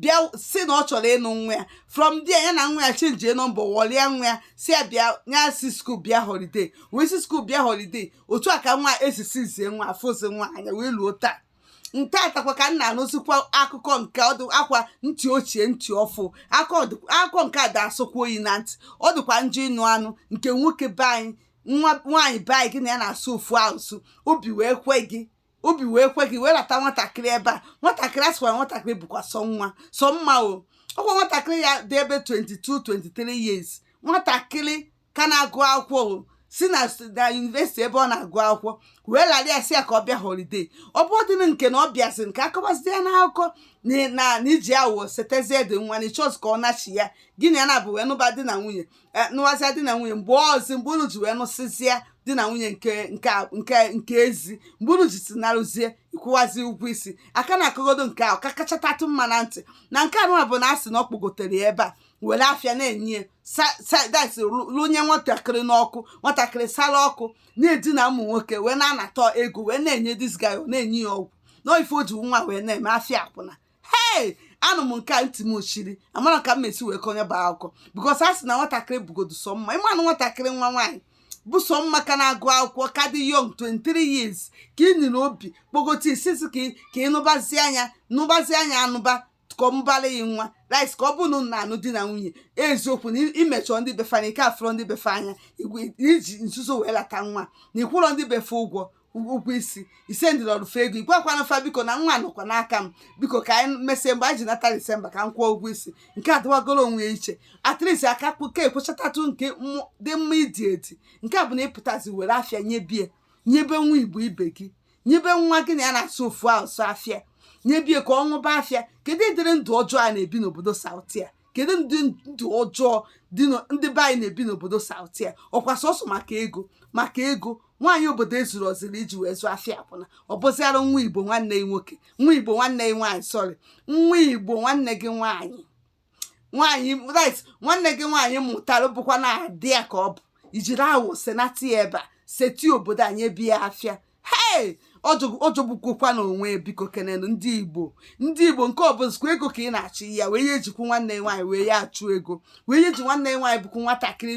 bịa sị na ọ chọrọ ịnụ nwa ya from there ya na nwa ya chenjie nọmba wọlịa nwa ya sị ya bịa ya si skuul bịa holiday wee si skuul bịa holiday otu a ka nwa esisi zie nwa afụzi nwa anya wee luo taa nke taatakwa ka m na-anụzikwa akụkọ nke ọdụ akwa ntị ochie ntị ọfụ akụkọ nke a da-asọkwa oyi na ntị ọ dịkwa njọ ịnụ anụ nke nwoke be anyị nwa nwaanyị be anyị gị na ya na-asụ ofu asụsụ obi wee kwe gị obi wee kwe gị wee lata nwatakịrị ebe a nwatakịrị a sịkwara nwatakịrị bụkwa sọ nwa sọ mma o ọkwa nwatakịrị ya dị ebe 22 23 years nwatakịrị ka na-agụ akwụkwọ o si na yunivesiti ebe ọ na-agụ akwụkwọ wee lara ya sị ya ka ọ bịa holiday ọ bụ ọdịnị nke na ọ bịazi nke akọwazi ya n'akụkọ na i ji awụwọ setezie dị nwa na ịchọzi ka ọ nachi ya gị na ya naabọ wee nụba di na nwunye e, nụwazia di na nwunye mgbe ọzi mgbe unu ji wee nụsịzie di na nwunye nke nke nke nke ezi mgbe unu ji si narụzie ịkwụwazi ụgwọ isi a ka na-akọgodo nke ahụ ka kachatatụ mma na ntị na nke anụwa bụ na a sị na ọ kpọgotere ya ebe a were afịa na-enye sadis lụnye nwatakịrị n'ọkụ nwatakịrị sara ụkwụ na-edina ụmụ nwoke wee na-anata ego wee na-enye dis guy na-enye ya ọgwụ na ife o ji nwa wee na-eme afịa akwụna hei anụ m nke a ntị m ochiri amara ka m mesi wee kọnyeba akụkọ bikos a sị na nwatakịrị bụgodu sọ mma ịmanụ nwatakịrị nwa nwaanyị bụ sọ mma ka na-agụ akwụkwọ ka dị young 23 years ka ị nwere obi kpọgote isisi ka ị- ka ịnụbazia nya nụbazia nya anụba ka ọ mụbara ya nwa at least ka ọ bụrụ na unu na-anụ di na nwunye eziokwu na imechọ ndị befa na ị ka afụrọ ndị befa anya igwe- i ji nzuzo wee lata nwa na ịkwụrọ ndị befa ụgwọ ụgwọ isi ị sendịlịrọ fa ego igwakwana fa biko na nwa nọkwa n'aka m biko ka anyị mesie mgbe anyị ji nata disemba ka m kwụọ ụgwọ isi nke a dịwagoro onwe ya iche at least a ka ka ekwuchatatụ nke dị mma idi edi nke a bụ na ịpụtazi were afịa nyebie nyebe nwa igbo ibe gị nyebe nwa gị na ya na-asụ ofu asụ afịa nyebie ka ọ ṅụba afịa kedu ụdịrị ndụ ọjọọ a na-ebi n'obodo south a kedu ndị ndụ ọjọọ dị ndị be anyị na-ebi n'obodo south a ọkwa sọsọ maka ego maka ego nwaanyị obodo ezurọziri iji wee zụọ afịa akwụna ọ bụziara nwa igbo nwanne gị nwoke nwa igbo nwanne gị nwaanyị sorry nwa igbo nwanne gị nwaanyị nwaanyị right nwanne gị nwaanyị mụtara bụkwa na ada ya ka ọ bụ i jiri awụwọ senata ya ebe a seti obodo nyebie afịa hei ọ jọgbukokwa na onwe bikokenenụ ndị igbo ndị igbo nke ọ bụzikwa ego ka ị na-achụ ya wee ya ejikwu nwanne ya nwaanyị wee ya achụ ego wee ya eji nwanne ya nwaanyị bụkwu nwatakịrị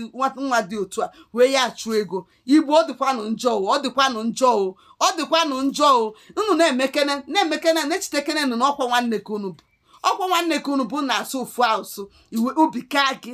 nwa dị otu a wee ya achụ ego igbo ọ dịkwanụ njọ o ọ dịkwanụ njọ o ọ dịkwanụ njọ o unu na-emekene na-emekene na-echetekenenụ na ọkwa nwanne ka unu bụ ọkwa nwanne ka unu bụ na-asụ ofu asụ iwe obi kaa gị